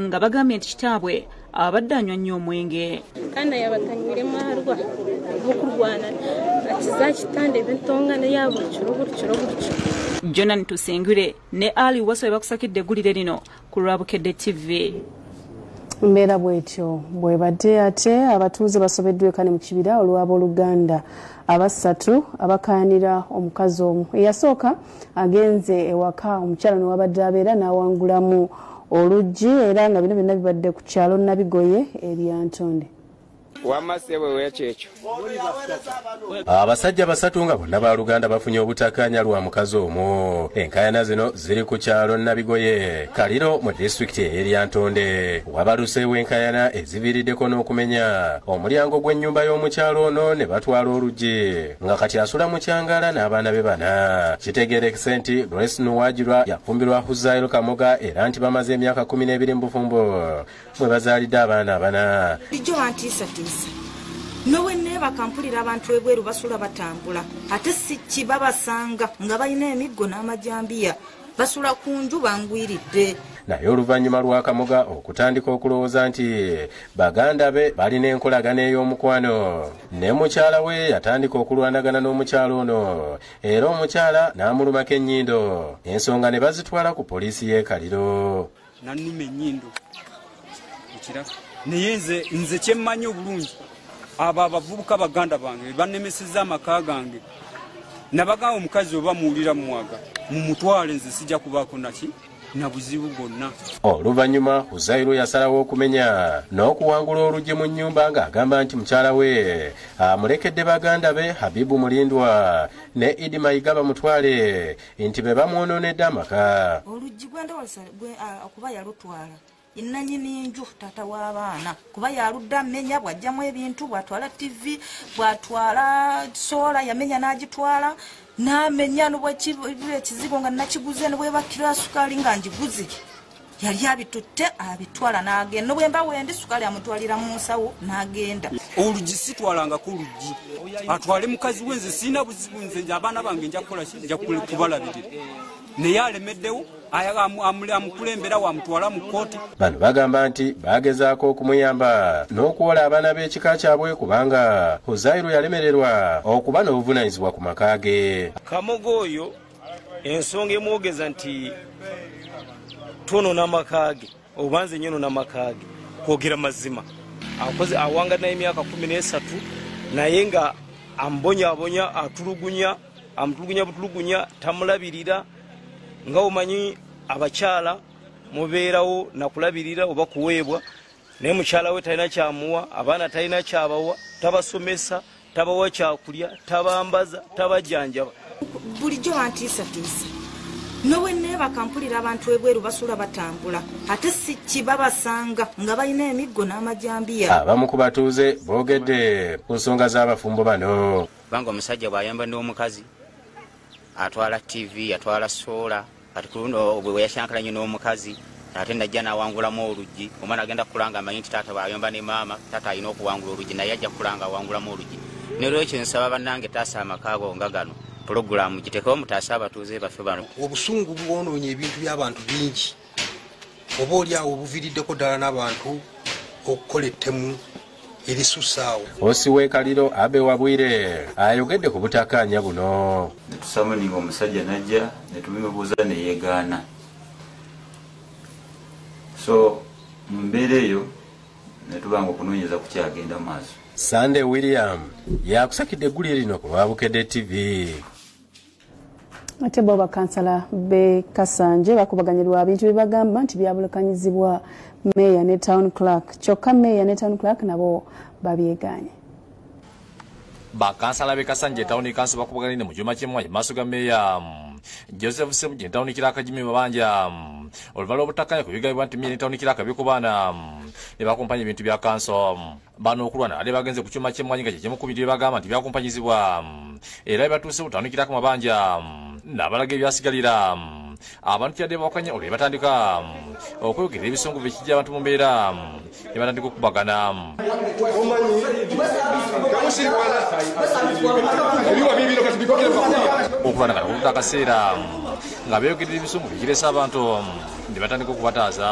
nga bagambye nti kitaabwe abadde anywa nnyo omwenge kana yabatanyire mwarwa mukurwana akizakitanda ebintongana yabuli kiro buli kiro buli kiro jonan tusengure ne ali waso ebakusakidde eggulire lino ku lwabukedde tv mbeera bwetyo bwebadde ate abatuuze basobeddwa ekane mu kibira olw'abooluganda abasatu abakayanira omukazi omu eyasooka agenze ewaka omukyala newabadde abeera n'awangulamu oluggi era nga bino byonna bibadde ku kyalo nabigoye eryantonde abasajja basatu nga bonna baluganda bafunye obutakanya lwa mukazi omu enkayana zino ziri ku kyalo nabigoye kaliro mu disitulikiti eyeryantonde wabaluseewo enkayana eziviiriddeko n'okumenya omulyango gw'ennyumba y'omukyalo ono ne batwala oluggi nga kati asula mu kyangala n'abaana be bana kitegerekese nti grace nuwagirwa yafumbirwa huzail kamoga era nti bamaze emyaka kumi n'ebiri mu bufumbo mwe bazaalidde abaana abana ijjo wantiisatiisa nowe neebaka mpulira abantu ebweru basula batambula ate sikki babasanga nga balina emiggo n'amajambiya basula ku nju bangwiridde naye oluvannyuma lwa kamoga okutandika okulowooza nti baganda be balina enkolagana ey'omukwano ne mukyala we yatandika okulwanagana n'omukyala ono era omukyala n'amulumako ennyindo ensonga ne bazitwala ku poliisi y'ekaliro nanuma enyindo ekiraba naye nze nze kyemmanyi obulungi abo abavubuka baganda bange bebanemeseza amaka gange nabagamba omukazi oba muwulira mumwaga mumutwale nze sijja kubaako naki na buzibu bwonna oluvannyuma huzairo yasalawo okumenya n'okuwangula oluggi mu nnyumba ng'agamba nti mukyala we amulekedde baganda be habibu mulindwa ne idi mayiga bamutwale nti be bamwonoonedde amaka oluggi gwendowooza okuba yalutwala enanyini nju tata w'abaana kuba yaludde amenya bw'ajjamu ebintu bw'atwala tivi bw'atwala soola yamenya n'agitwala n'amenya nobwekizigo nga nakiguze nobwebakira sukaali nga ngiguze yali abitutte abitwala n'agenda nobwemba wendi sukaali amutwalira mu nsawo n'agenda olugi sitwalanga ku lugi atwale mukazi we nze sirina buzibu nze nze abaana bange njakubalabirira naye alemeddewo amukulembera wamutwala mu kkooti bano bagamba nti bagezaako okumuyamba n'okuwola abaana b'ekika kyabwe kubanga huzairu yalemererwa okuba n'obuvunanyizibwa ku maka ge kamogo oyo ensonga emwogeza nti twonona amaka ge oba nze nyono namaka ge kwogera mazima akoze awanga naye emyaka kumi nesatu naye nga ambonyabonya atulugunya amutulugunya butulugunya tamulabirira nga omanyi abakyala mubeerawo nakulabirira oba kuweebwa naye mukyala we talina kyamuwa abaana talina kyabawa tabasomesa tabawa kyakulya tabambaza tabajjanjaba bulijjo bantiisatiisa nowe neebaka mpulira abantu ebweru basula batambula ate si kibabasanga nga balina emiggo n'amajambiya abamu ku batuuze boogedde ku nsonga z'abafumbo bano kubanga omusajja bw'ayamba n'omukazi atwala ttivi atwala soola kati kuluno bweyashankala nyo n'omukazi ate najja nawangulamu oluggi omwana agenda kukulanga amanyi nti taata bwayomba ne maama taata alina okuwangula oluggi naye ajja kukulanga awangulamu oluggi nerwekyo nsaba bannange taasa amakaago nga gano pulogulaamu gitekewo mutaase abatuuze baffe bano obusungu bwonoonye ebintu by'abantu bingi oba oli awo obuviriddeko ddala n'abantu okukola ettemu erisusaawo osi wekaliro abe wabwire ayogedde ku butakaanya buno netusamuninga omusajja najja netubimubuuza neyegaana so mu mbeera eyo netubanga okunoonyeza kukyagenda maaso sande william yakusakidde eggulire lino ku lwa bukedde tv ate bo bakansala be kasanje bakubaganirwa bintu bibagamba nti byabulukanyizibwa meeya ne town clerk kyokka meeya ne town clerk nabo babyeganye bakansala be kasanje tawuni kansi bakubaganire mu kyuma ky'emwanyi mu maaso ga meeya joseph semuji ne tawuni kiraka jimi mabanja oluvala obutakanya ku bigabibwa nti meeya ne tawuni kiraka bikubaana ne bakumpanya ebintu bya kanso bano okulwana ade bagenze ku kyuma ky'emmwanyi nga kye kimu ku bintu bye bagamba nti byakumpanyizibwa era bebatuuse butandikira ku mabanja n'abalaga ebyasigalira abantu kyadde bawakanya olwe batandika okweyogera ebisungu byekijja abantu mu mbeera ne batandika okubagana okulwana kati kuluta akaseera nga beyogerera ebisungu byekiresa abantu ne batandika okubataaza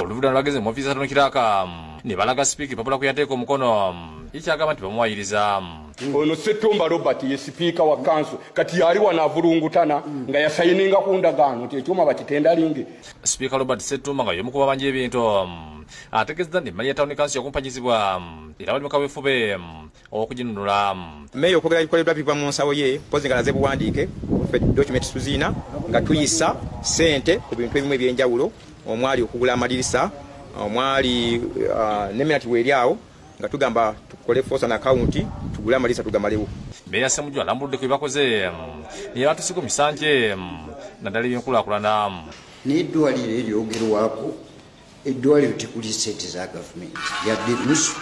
oluvudano lwagenze mu ofiisi atanukiraka ne balaga sipiika epapula kwe yateeka omukono ekyagamba nti bamuwayiriza ono setumba robert ye sipiika wa kanso kati yali wano avulungutana nga yasayininga ku ndagaano nti ekyuma bakitendalinge sipiika robert setumba nga y'omu ku babanja ebintu ategeezezza nti emmali ya tawuni kansi yakumpanyizibwa era bali mu kaweefube okuginunula meeya okwogera bikoleddwa biva mu nsawo ye mpozi nga laze buwandiike ffe document tuziina nga tuyisa ssente ku bintu ebimu eby'enjawulo omwali okugula amadirisa omwali uh, neminati weeri awo nga tugamba tukole fosa na kawunti tugule amalisa tugamalewo meya semujwa alambuludde ku byebakoze neyebatusiko misanje naddala ebyenkulakulana naye eddwaliro eryogerwako eddwaliro tekuli sente za gavumenti yadde nusu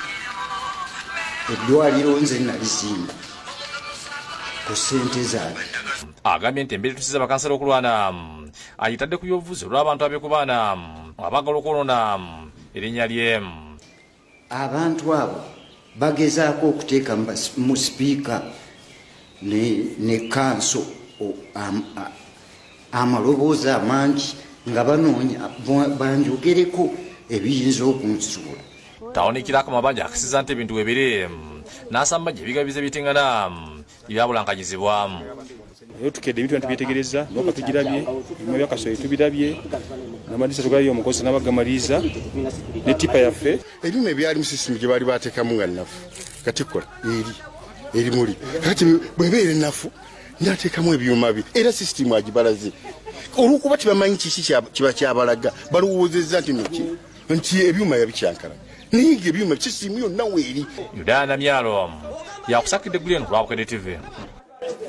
eddwaliro nze nalizimba ku sente zange agambye nti embeera etusiza bakansala okulwana ayitadde ku byobufuzi olw'abantu abekubaana abagala okwonona erinnya lyemu abantu abo bagezaako okuteeka mu sipiika ne kanso amaloboozi amangi nga banoonya banjogereko ebiyinza okunsuula tawunikirako mabanja akisiza nti ebintu webiri nasamba gye bigabize bitingana byabulankanyizibwamu naye tukedde ebintu bantu byetegereza noka tugirabye ebima byakasoye tubirabye namadisa tugalabye omukozi nabagamaliiza ne tipa yaffe ebyuma ebyali musisimu gye baali bateekamu nga nnafu katikola eri erimuli kati bwebeera ennafu nateekamu ebyuma bye era sisitimu agibalaze olwokuba tebamanyi kiki kiba kyabalaga balowoozezza nti noki nti ebyuma yabikyankala naye nga ebyuma kisiimu yonna weeri yudaa namyalo omu yakusakidde eggulu eno lwabukedde tivi eno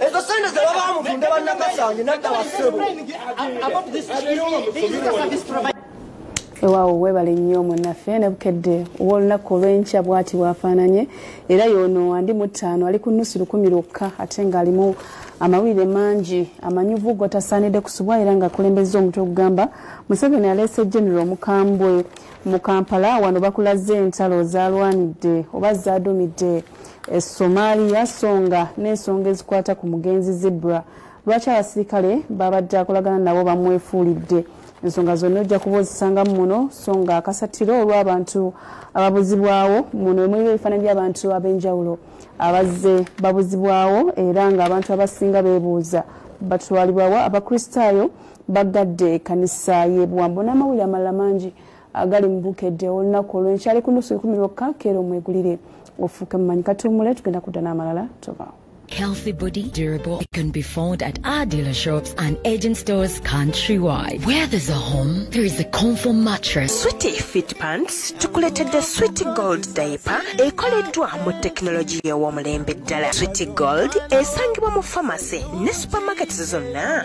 ezo sente zebabamutunda banakasanye nadda wasebo ewaawo webale nnyo munaffe ne bukedde ow'olunaku olw'enkya bwati bwafaananye era yono andi mu ttaano ali ku nnusu lukumi lwokka ate ng'alimu amawulire mangi amanyuvu gotasaanidde kusubwa era ng'akulembezza omutwe ogugamba museveni aleese genero omukambwe mu kampala wano bakulaze entalo zalwanidde oba zadumidde esomaliya songa n'ensonga ezikwata ku mugenzi zibra lwaki abasirikale babadde akolagana nabo bamwefuulidde ensonga zonna ojja kuba ozisangamu muno so nga akasatiro olw'abantu ababuzibwawo muno emulimu ebifaananyi by'abantu ab'enjawulo abazze babuzibwawo era ng'abantu abasinga beebuuza batwalibwawo abakristaayo baggadde ekanisa y'ebuwambo n'amawulire amalala mangi agali mu bukedde olunaku olwenkyali ku nusu ikumi lwokka keera omwegulire ofuuke mumanyi katuumule tugenda kudda n'amalala tobaawo Healthy body, durable, it can be found at our dealer shops and agent stores countrywide. Where there's a home, there is a comfort mattress. Sweetie Fit Pants tukuletedde Sweetie Gold diaper ekoleddwa mu tekinologiya ew'omulembe ddala. Sweetie Gold esangibwa mu pharmacy ne supermarkets zonna.